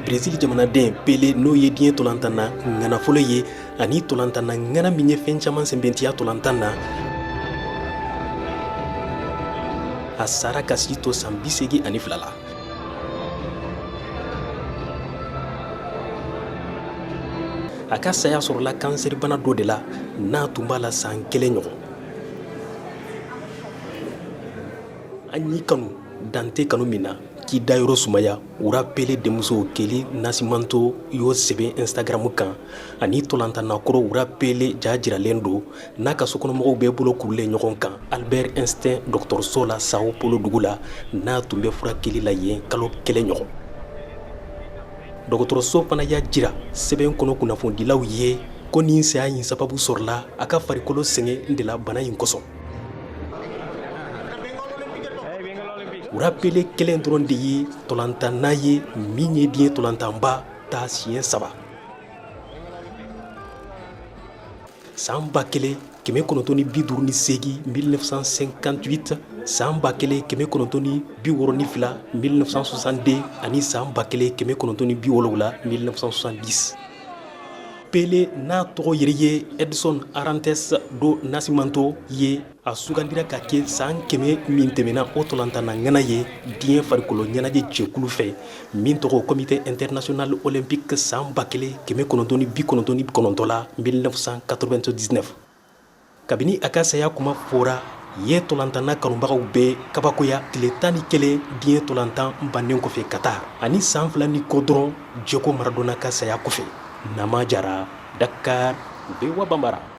brezili jamanaden pele n'o ye diɲɛ tolantanna ŋana fɔlɔ ye ani tolantanna ŋana min ye fɛn caman sɛnbɛntiya tolantan na a sara k'a si to san bisegi ani fila la a ka saya sɔrɔla kansɛribana dɔ de la n'a tun b'a la san kelen ɲɔgɔn an y'i kanu dan tɛ kanu min na k'i dayɔrɔ sumaya roi pele denmuso kely nascimento y'o sɛbɛn instagram kan ani tolantanna kɔrɔ roi pele ja jiralen don n'a ka sokɔnɔmɔgɔw bɛɛ bolo kurulen ɲɔgɔn kan albert einstein dɔgɔtɔrɔso la sao paulo dugu la n'a tun bɛ furakɛli la yen kalo kelen ɲɔgɔn dɔgɔtɔrɔso fana y'a jira sɛbɛn kɔnɔ kunnafonidilaw ye ko nin saya in sababu sɔrɔla a ka farikolo sɛgɛn de la bana in kosɔn roi pele kelen dɔrɔn de ye tolantanna ye min ye diɲɛ tolantanba ta siɲɛ saba san ba kelen kɛmɛ kɔnɔntɔn ni bi duuru ni segin mi san sen kanti san ba kelen kɛmɛ kɔnɔntɔn ni bi wɔɔrɔn ni fila mi sonsanden ani san ba kelen kɛmɛ kɔnɔntɔn ni bi wɔwula mi san di pele n'a tɔgɔ ye ye edison ate sa don nasitɔ ye a sugandira ka kɛ san kɛmɛ min tɛmɛna o tolantanna ŋana ye diɲɛ farikolo ɲɛnajɛ jɛkulu fɛ min tɔgɔ comité international olympique san ba kelen kɛmɛ kɔnɔntɔn ni bi kɔnɔntɔn ni kɔnɔntɔn la 1999 kabini a ka saya kuma fɔra ye tolantanna kanubagaw bɛɛ kabakoya tile tan ni kelen diɲɛ tolantan bannen kɔfɛ qatar ani san fila ni kɔ dɔrɔn diego maradona ka saya kɔfɛ nama jara dakar voa bambara